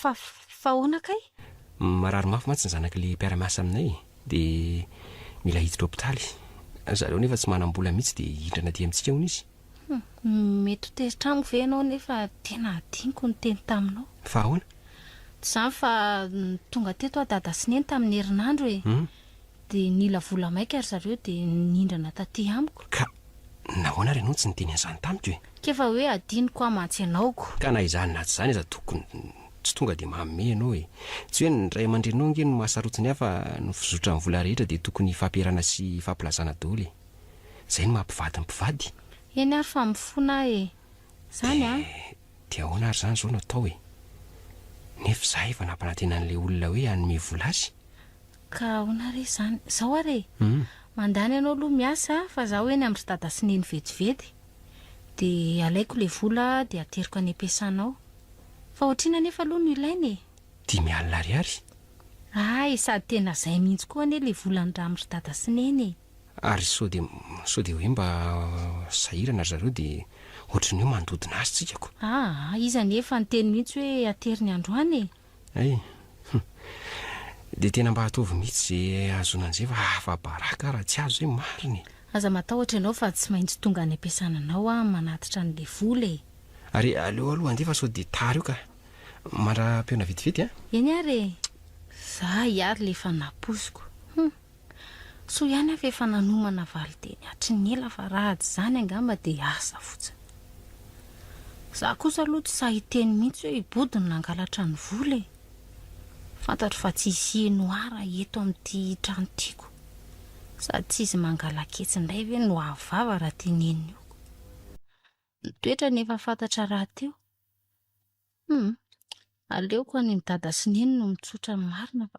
Fa fa ahoana kay? Marary mafy mantsy ny zanaky le mpiara-miasa aminay e, de mila hiditra hopitaly. Zareo nefa tsy manam-bola mitsy de hihindrana aty amintsika hono izy. Humm, mety ho tezitra amiko ve ianao nefa tena adinoko ny teny taminao. Fa ahoana? Tsy izany fa tonga teto aho dada sy neny tamin'ny herinandro e. Humm. Dia nila vola maika ry zareo dia nindrana taty amiko. Ka nahoana ary ianao no tsy niteny an'izany tamiko e? K'efa hoe adinoko aho mantsy ianao ko. Ka na izany na tsy izany aza tokony tsy tonga dia manome ianao e! Tsy hoe ny ray aman-dreninao ange no mahasarotiny ahy fa ny fizotran'ny vola rehetra dia tokony hifampiarahana sy hifampilazana daholo e! Izay no maha mpivady ny mpivady. Eny ary fa mifona aho e! Izany an! Dia dia ahoana ary izany izao no atao e? Nefa izaho efa nampanantena an'ilay olona hoe hanome vola azy. Ka ahoana re izany? Izao ary e! mandany anao aloha miasa fa izaho eny amin'ry dada sy neny vetivety e! dia alaiko ilay vola dia ateriko any am-piasana ao. Fa ohatr'inona anefa aloha no ilaina e? Dimy alina ariary. Ah e! sady tena izay mihitsy koa anie ilay vola niramin'ry dada sy neny e! Ary sao dia, sao dia hoe mba sahirana ry zareo dia ohatry ny hoe mandodona azy tsika ko! Ah! izy anefa niteny mihitsy hoe ateriny androany e! Hay! Hum! Dia tena mba ataovy mihitsy izay ahazoana an'izay fa afa-baraka aho raha tsy azo izay marina e! Aza matahotra ianao fa tsy maintsy tonga any am-piasana anao aho manatitra an'ilay vola e! Ary aleo aloha handeha fa sao dia tara eo ka! Mandra-pihaona vetivety an! Eny ary e! Za hiary ilay fanahy posiko! Hum! Soa ihany aho fa efa nanomana valinteny hatry ny ela fa raha tsy izany angamba dia asa fotsiny. Izaho kosa aloha tsy sahy hiteny mihitsy hoe i Body no nangalatra ny vola e! Fantatro fa tsy hisy heno ahy raha eto amin'ity trano tiako. Sady tsy izy mangalaketsy indray ve no avo vava raha teneniko. Ny toetrany efa fantatra rahateo. Hum, aleoko an'i Dada sy Neny no mitsotra ny marina fa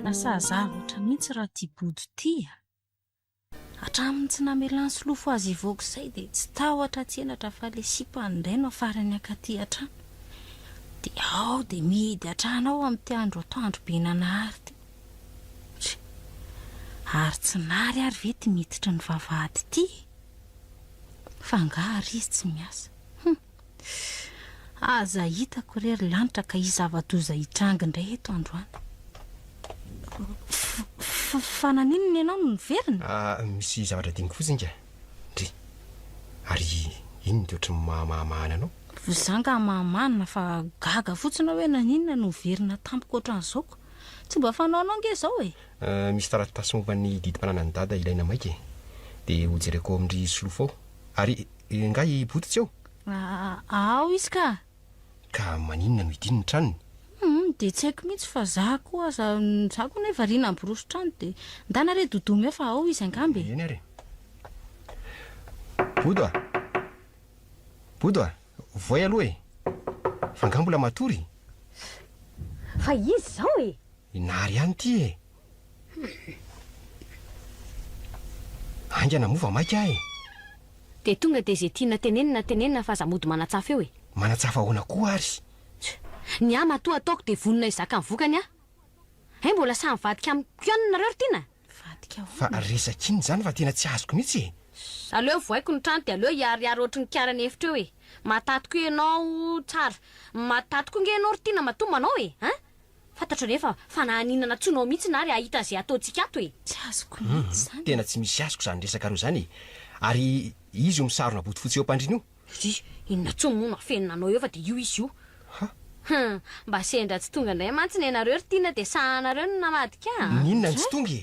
Lasa azavotra mihitsy raha ty bodo ty a! Hatramin'ny tsy namelany solofo azy hivoaka izay dia tsy tahotra tsy henatra fa ilay sipany indray no afarany hankaty an-trano. Dia ao dia mihidy hatrany ao amin'ity andro atoandro be nanahary ity. Ry! Ary tsy nary ary ve ity miditry ny vavahady ity e? Fa angaha ry izy tsy miasa? Hum! Aza hitako re ry lanitra ka hisy zava-doza hitranga indray eto androany. Fa naninona ianao no niverina? Misy zavatra diniko fotsiny inga, ndry. Ary inona dia ohatran'ny mahamahana anao? Za angaha mahamana fa gaga fotsiny aho hoe naninona no niverina tampoka ohatran'izao ka. Tsy mba fanaonao ange izao e! Misy taratasy momba ny didim-pananan'i Dada ilaina maika e. Dia hojereko ao amin'ry Solofo ao. Ary nga i Boto tsy eo? A, ao izy ka! Ka maninona no idiny ny tranony? Hum, dia tsy haiko mihitsy fa za koa aza, za koa anie variana miroso trano dia ndana re Doudou meo fa ao izy angamba e! Eny ary e! Bodo a! Bodo a! Voay aloha e! Fa nga mbola matory? Fa izy izao e! I Nary ihany ity e! Haingana moa vao maika ahy e! Dia tonga dia izay tiana tenenina tenenina fa aza mody manatsafa eo e! Manatsafa ahoana koa ary? Tch! Ny ahy matoa ataoko dia vonona hizaka ny vokany aho! Hay mbola sahy mivadika amiko ihany nareo ry tiana? Mivadika ahoana? Fa resaka inona izany fa tena tsy azoko mihitsy e! Tch! Aleo vohaiko ny trano dia aleo hiharihary ohatry ny kiara ny efitra eo e! Mahataty koa ianao tsara, mahataty koa ange ianao ry tiana matoa manao e! An! Fantatro anefa fa na haninana tsy ho nao mihitsy na ary hahita an'izay ataontsika ato e! Tsy azoko mihitsy izany e! Tena tsy misy azoko izany resaka roa izany e! Ary izy io misarona bodofotsy eo am-pandriana io? Ry! Inona intsony moa no afenina anao eo fa dia io izy io? Ha! Hum! Mba sendra tsy tonga indray mantsy ny anareo ry Tiana dia sahanareo no namadika a! N'inona no tsy tonga e!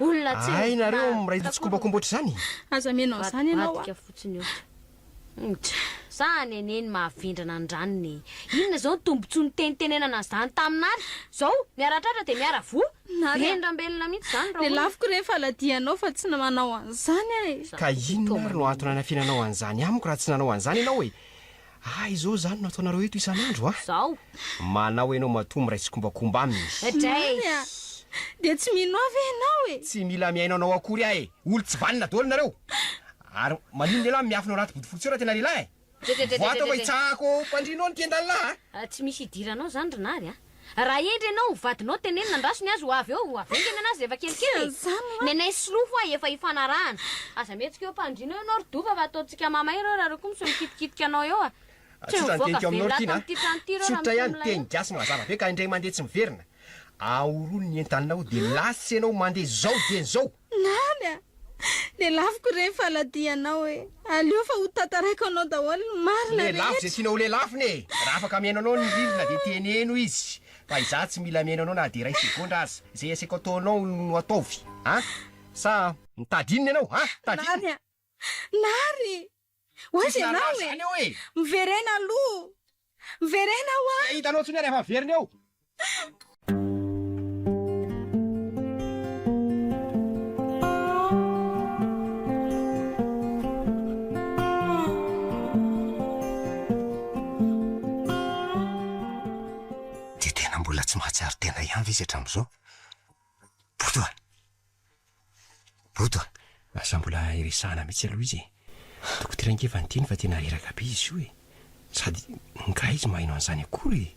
Olona tsy Hay nareo miray tsikombakomba ohatr'izany? Aza mihaino an'izany ianao a! Vadibadika fotsiny io. Ngt. Sa neneny mahavendrana an-dranony e! Inona izao ny tombontsoa nitenitenenana an'izany tamina ary izao miara tratra dia miara voa? Nary a! Vendrambelona mihitsy izany raha olona. Lelafiko re ny faladianao fa tsy manao an'izany aho e! Ka inona ary no antony anafenanao an'izany amiko raha tsy nanao an'izany ianao e! Ah izao izany no ataonareo eto isan'andro a? Zao. Manao ianao matoa miray tsikombakomba aminy. Zany a! Dia tsy mino ahy ve ianao e? Tsy mila mihaino anao akory aho e! Olo tsy vanona daholo nareo! Ary maninona ialahy miafina ao anaty bodofotsy ao raha tena lehilahy e? Voa atao fa hitsahako ao am-pandrianao ny mpiandalina aho a! Tsy misy idiranao zany ry Nary a! Raha hendry ianao, vadinao teneno nandraso ny azy ho avy eo, ho avy eo nge ny anazy rehefa kelikely e! Ny anay sy Lo ho'a efa hifanarahana. Aza mihetsika eo am-pandriana eo ianao ry Dova fa ataontsika mamay ireo raha ireo koa misy mikitikitika anao eo a! Tsy eo mivoaka very lahy tao amin'ity trano ity ireo raha misy olona eo. Teny gasy mazava be ka indray mandeha tsy miverina. Ahorono ny entanao dia lasa ianao mandeha zao dieny zao. Nany a! Lelafiko ireny faladianao e! Aleo fa ho tantaraiko anao daholo ny marina rehetra! Lelafo izay tianao ho lelafony e! Raha afaka mihaino anao ny rindrina dia teneno izy fa izaho tsy mila mihaino anao na dia iray segondra aza! Izay aseko ataonao no ataovy a! Sa mitady inona ianao a! Mitady inona? Nany a! Nary! Ho aiza ianao e? Miverena aloha! Miverena aho an! Tsy hahita anao intsony aho rehefa very ny eo! Dia tena mbola tsy mahatsiaro tena ihany ve izy hatramin'izao? Boto a! Bodo a! Aza mbola iresahana mihitsy aloha izy e! Toko traingeva ny teny fa tena reraka be izy io e! Sady ngaha izy maheno an'izany akory e!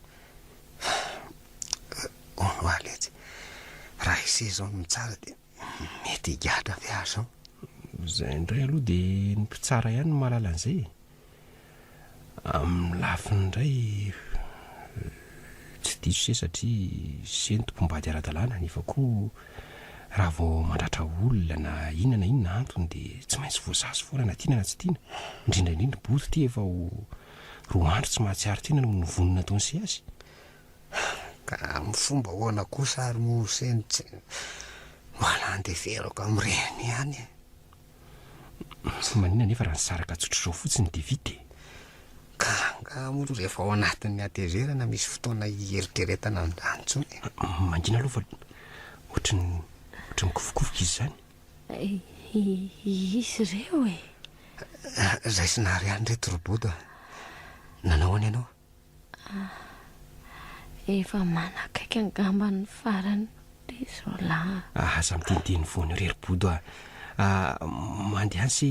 Hono aho letsy, raha i seza ao no mitsara dia mety higadra ve aho izao? Izay indray aloha dia ny mpitsara ihany no mahalala an'izay e! Amin'ny lafiny indray, tsy diso se satria se ny tompom-bady ara-dalàna nefa koa raha vao mandratra olona na inona na inona antony dia tsy maintsy voasazy foana na tiana na tsy tiana, indrindra indrindra i Bodo ity efa ho roa andro tsy mahatsiaro tena noho ny vono nataon'i se azy. Ka amin'ny fomba ahoana kosa ary moa se no tsy mba nandeferako amin'ny reny ihany e? Tsy maninona anefa raha nisaraka tsotr'izao fotsiny dia vita e! Ka angaha moa rehefa ao anatin'ny hatezerana misy fotoana hieritreretana an'izany intsony e? Mangina aloha fa ohatran'ny ohatran'ny kofokofoka izy izany. Izy ireo e! Raisina àry ihany ireto roboto a! Nanao ahoana ianao? Ah, efa manakaiky angamba ny farany ry Zola. Ah, aza miteniteny foana eo ry Ribodo ah. Ah, mandehany se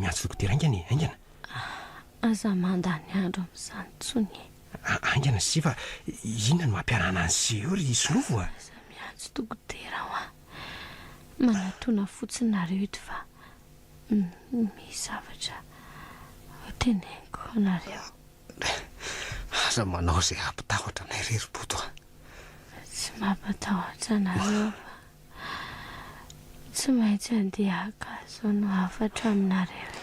miantso dokotera aingana e, aingana. Ah, aza mandany andro amin'izany intsony e. Ah, aingana se fa inona no mampiarahana an'se eo ry Sinovo ah. Aza miantso dokotera aho ah. Manatona fotsiny nareo eto fa Misy zavatra ho teneniko anareo. Aza manao izay hampitahotra anay irery Bodo a! Tsy mampatahotra anareo fa tsy maintsy handeha haka izao no hafatra aminareo e!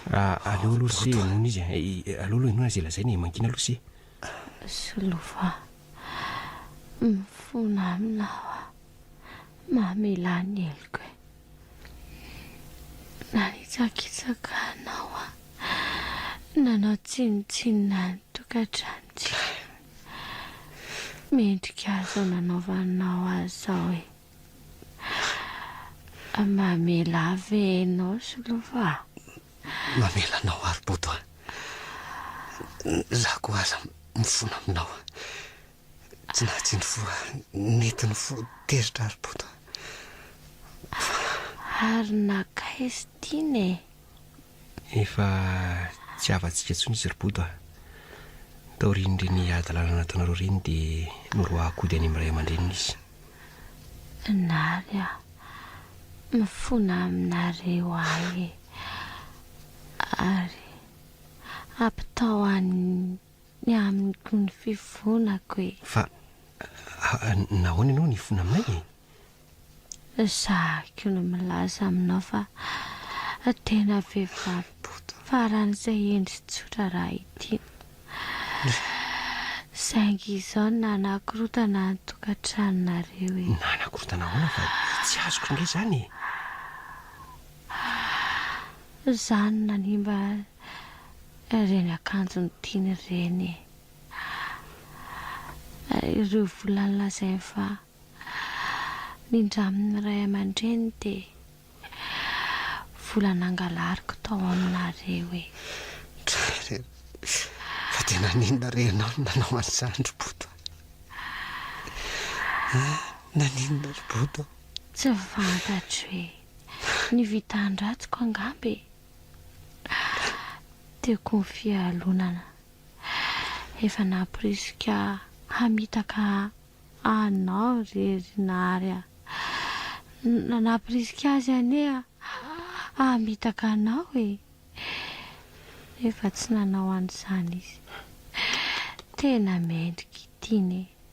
Aleo aloha se henoina izy e! Aleo aloha henoina izay lazainy e! Mangina aloha se! Solova a! Mifona aminy aho a! Mamelà ny heloko e! Nanitsakitsaka anao aho, nanao tsinontsinona ny tokantranontsika. Mendrika izao nanaovanao ahy izao e! Mamela ahy ve ianao Solova a? Mamela anao ary Bodo a! Izaho koa aza mifona aminao. Tsy nahatsindry voa, nety ny fo, tezitra ary bota. Ary nakaiz tiana e. Efa tsy havantsika intsony izy ry Bodo a. Taorian'ireny hadalana nataonareo ireny dia noroahakody any amin'ny ray aman-dreniny izy. Nary a, mifona aminareo ahy e. Ary ampitao any ny amin'ny gony fifonako e! Fa nahoana ianao no hifona aminay e? Ezahiko ny milaza aminao fa tena vehivavy boto faran'izay hendry tsotra raha ity no saingy izao nanakorotana ny tokantranonareo e! Nanakorotana ahoana fa tsy azoko indray izany e! Izaho no nanimba Ireny akanjony tiany ireny e! Ahh! Ary ireo volany lazainy fa nindraminy ray aman-dreniny dia vola nangalariko tao aminareo e! Dry! Fa dia naninona re ianao no nanao an'izany ry Bodo a! Ahh! Naninona ry Bodo? Tsy fantatro e! Ny vitan-dratsiko angamba e! Tiako ny fialonana. Efa namporisika hamitaka anao re ry Nary a! Namporisika azy anie hamitaka anao e! Nefa tsy nanao an'izany izy. Tena mendrika ity ne!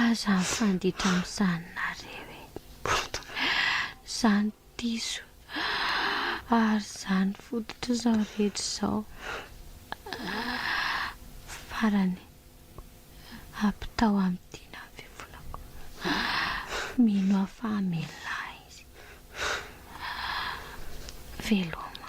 Aza mifanditra amin'izany nareo e! Izany diso ary izany fototr'izao rehetra izao farany ampitao amin'ny dinan'ny fivonako. Mino aho fa hamelona ahy izy. Veloma.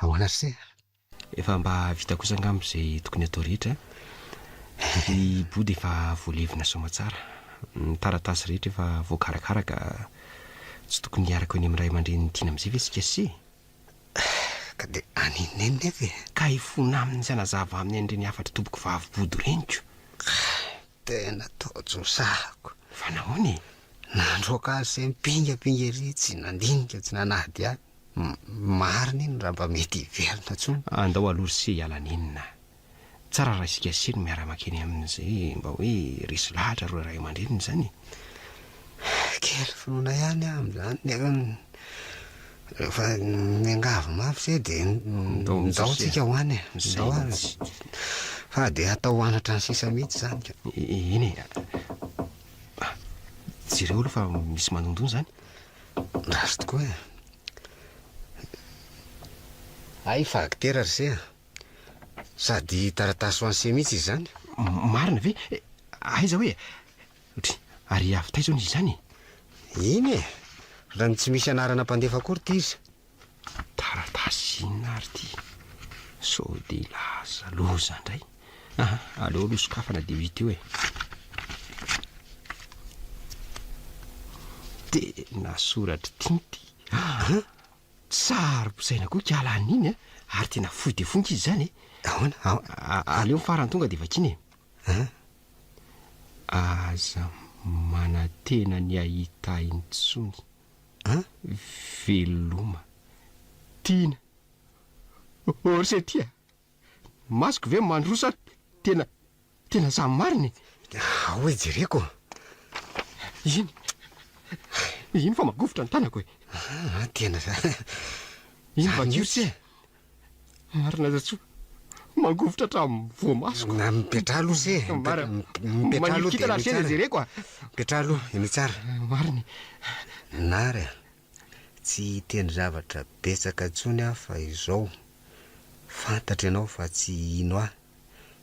Ahoana ry se? Efa mba vita kosa angamba izay tokony atao rehetra a! Ny bodo efa voalevina soamatsara, ny taratasy rehetra efa voakarakara ka tsy tokony hiaraka eo any amin'ny ray aman-drenin'i Tiana amin'izay ve isika se? Ka dia any i Neny nefa e! Ka hifona aminy sy hanazava aminy an'ireny hafatr'i Tompoko vavy bodo ireny ko! Tena taojosahako! Fa nahoana e? Nandroaka azy se mipingapinga ery tsy nandinika tsy nanadihady. Marina iny raha mba mety hiverina tsony. Andao aloha ry se hiala nenina. Tsara raha isika se no miara-makeny aminy zay mba hoe resy lahatra ireo ray aman-dreniny zany e. Kely finoana ihany aho amin'izany nefa rehefa miangavy mafy se de ndao tsika ho any e. Ndao ary. Fa de atao ho any hatrany sisa mihitsy izany ka. Eny e. Jereo aloha fa misy manondony izany. Ratsy tokoa e. Hay fa aktera ry se a! Sady taratasy ho an'i se mihitsy izy izany. Marina ve? Aiza hoe? Dry, ary avy taiza hono izy izany e? Iny e! Raha ny tsy misy anarana mpandefa akory ity izy Taratasy inona ary ity? Sao dia hilaza loza indray? Aha, aleo aloha sokafana dia ho hita eo e. Tena soratr'i Tinty. Aha, saro-posaina koa kiala an'iny a, ary tena fohy dia fohy ankizy izany e. Ahoana? A- a- Aleo ny farany tonga dia vakiana e. Aha. Aza manantena ny hahita intsony. an? Veloma. Tiana. Orse tia. Ny masoko ve mandroa sa tena tena zah marina e? Ao e jereko. Iny. Iny fa magovitra ny tanako e. Ah, tena. Iny vakio se. Marina Zatsoa, mangovitra hatramin'ny voamasoko. Na mipetraha aloha se, Mara- mipetraha aloha dia Manilikitana henoy se le tsara. jereko a. Mipetraha aloha, henoy tsara. Marina e. Nary a, tsy hiteny zavatra betsaka intsony aho fa izao, fantatro ianao fa tsy hino ahy.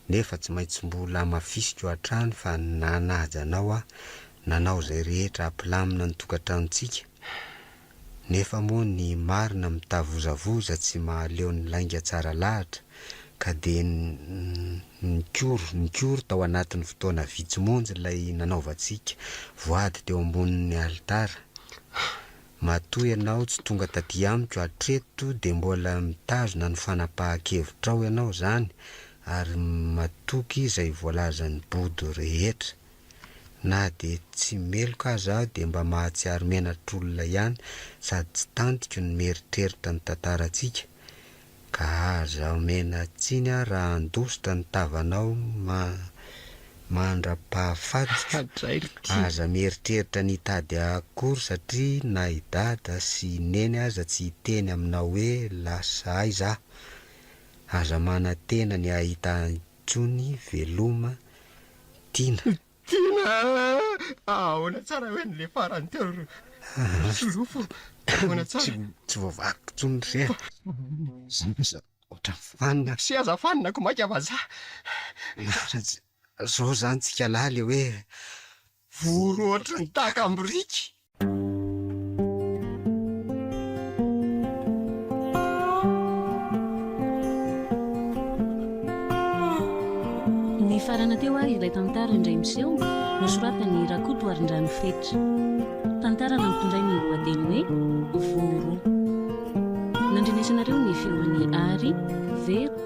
nefa tsy maintsy mbola hamafisiko hatrany fa nanaja anao aho, nanao izay rehetra hampilamina ny tokantranontsika, nefa moa ny marina mitavozavoza tsy mahaleo ny lainga tsara lahatra, ka dia nikory, nikory tao anatin'ny fotoana vitsy monja ilay nanaovantsika voady teo ambonin'ny alitara. Matoa ianao tsy tonga taty amiko hatreto dia mbola mitazona ny fanapahan-kevitrao ianao izany ary matoky izay voalazan'i Bodo rehetra. Na dia tsy meloka aza aho dia mba mahatsiaro menatr'olona ihany sady tsy tantiko ny mieritreritra ny tantarantsika Ka aza omena tsiny aho raha handositra ny tavanao mandra-pahafaty. Aza mieritreritra ny hitady akory satria na i Dada sy i Neny aza tsy hiteny aminao hoe lasa aiza aho. Aza manantena ny hahita ahy intsony veloma Tina. Tiana ah! Ahoana tsara hoe ny le farany teo ry solofo? Ahoana tsara? Tsy voavaliko intsony ry seza. Zany aza ohatran'ny fanina. Sy aza fanina ko maika vazaha. Zao zany tsika lahy le hoe vory ohatry ny takam-biriky. Nifarana teo ary ilay tantara indray miseho nosoratan'i Rakotoarindrano Fetra. Tantara nampitondray ny lohateny hoe Voro. Nandrenesanareo ny feon'i Ary, Vero,